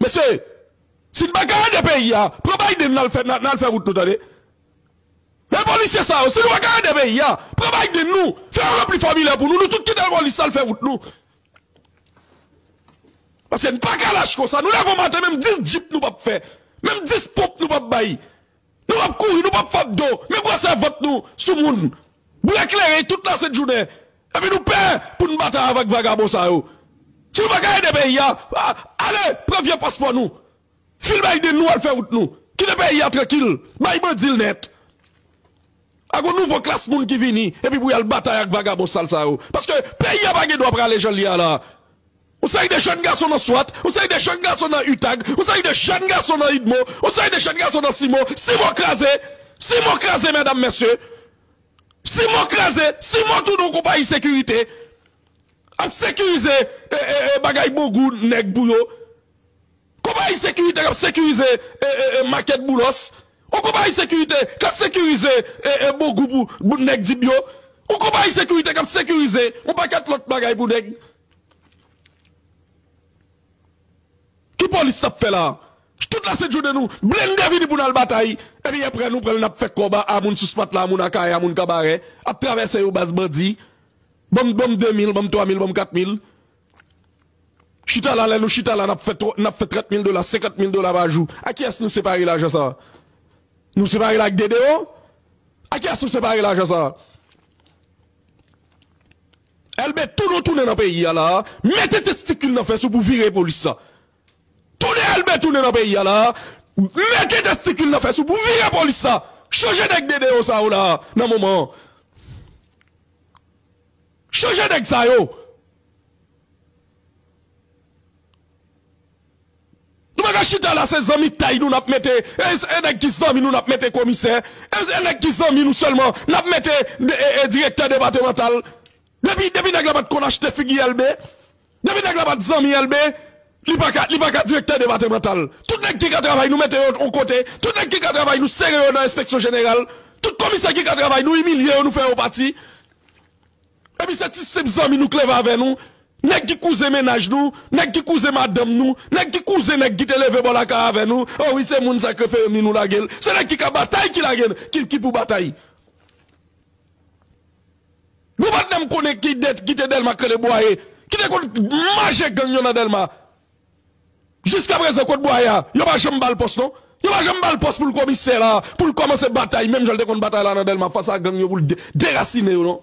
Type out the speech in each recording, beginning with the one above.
Mesye, si n pa ka ede peyi a, pran Biden nal fè nal fè wout nou tande. E polisye sa yo, si nou pa ka ede peyi a, pran Biden nou, fè yo ranpli fòmilè pou nou, nou tout kite polis sa l fè wout nou. Paske n pa ka lach konsa, nou leve yon maten menm 10 djip nou pap fè, menm 10 ponp nou pap bay. Nou pap kouri, nou pap fap do, men bwase vant nou sou moun. Bouye kleren tout lasent jounen. Epi nou pè pou n batay avèk vagabon sa yo. Si nou pa ka ede peyi a, ale pran vye paspò nou. Fil Biden nou al fè wout nou. Kite peyi a trankil. Bay bandi l nèt. A gon nouvo klas moun ki vini epi pou y al batay ak vagabon sal sa yo. Paske peyi a pa gen dwa prale jan l ye a la. Yon seri de jèn gason nan Swat, yon seri de jèn gason nan Utag, yon seri de jèn gason nan Idmo, yon seri de jèn gason nan Simo, Simo kraze! Simo kraze mèdam mèsye! Simo kraze! Simo tounen yon konpayi sekirite, ap sekirize bagay bongou nèg pou yo. Konpayi sekirite k ap sekirize makèt Boulos, yon konpayi sekirite k ap sekirize bongou pou nèg Dibyo, yon konpayi sekirite k ap sekirize yon pakèt lòt bagay pou nèg. Ki polis nap fè la. Tout la se jounen nou blende vini pou nal batay epi aprè nou pranl nap fè kòb a moun sous matla a moun akayè a moun kabarè ap travèse yo baz bandi banm banm 2 mil banm 3 mil banm 4 mil chita la lè nou chita la nap fè nap fè 30 mil dola 50 mil dola pa jou a kiyès nou separe lajan sa nou separel ak dedeo a kiyès nou separe lajan sa. Elbe tounou tounen nan peyi a la mete testikil nan fè sou pou vire polis sa tounen elbe tounen nan peyi a la mete testikil nan fè sou pou vire polis sa chanje nèg dede yo sa yo la nan moman an chanje nèg sa yo. Nou paka chita la se zanmitay nou nap mete e nèg ki zanmi nou nap mete komisè e nèg ki zanmi nou sèlman nap mete direktè depatemantal depi depi nèg la pat konn achte figi elbe depi nèg la pat zanmi elbe li paka li paka direktè depatemantal tout nèg ki ka travay nou mete yo on kote tout nèg ki ka travay nou sere yo nan enspeksyon jeneral tout komisè ki ka travay nou imilye yo nou fè yo pati. Epi se ti senp zanmi nou klèv avè nou, nèg ki kouzen mennaj nou, nèg ki kouzen madanm nou, nèg ki kouzen nèg ki te leve bò lakay avè nou, o wi se moun sa krefeyem ni nou lage l, se nèg ki ka batay ki lage n, ki pou batay. Gon patnè m konnen ki te Dèlma k rele Bwaye, ki te konn maje gang yo nan Dèlma. Jiska prezan kot bwaye a? Yo pa janm bal pòs non. Yo pa janm bal pòs poul komisè la, poul kòmanse batay menm janl te konn batay la nan Dèlma fas a gang yo poul derasine yo non.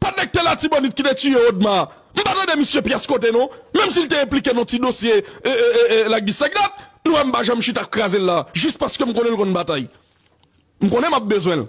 Patnè kite latibonit kite tiye odma a. M pa tande misye pyès kote non. Menm sil te enplike nan ti dosye lagbis la gdat nou wèm pa janm chita krazel la jis paskem konnenl konn batay. M konnen map bezwenl.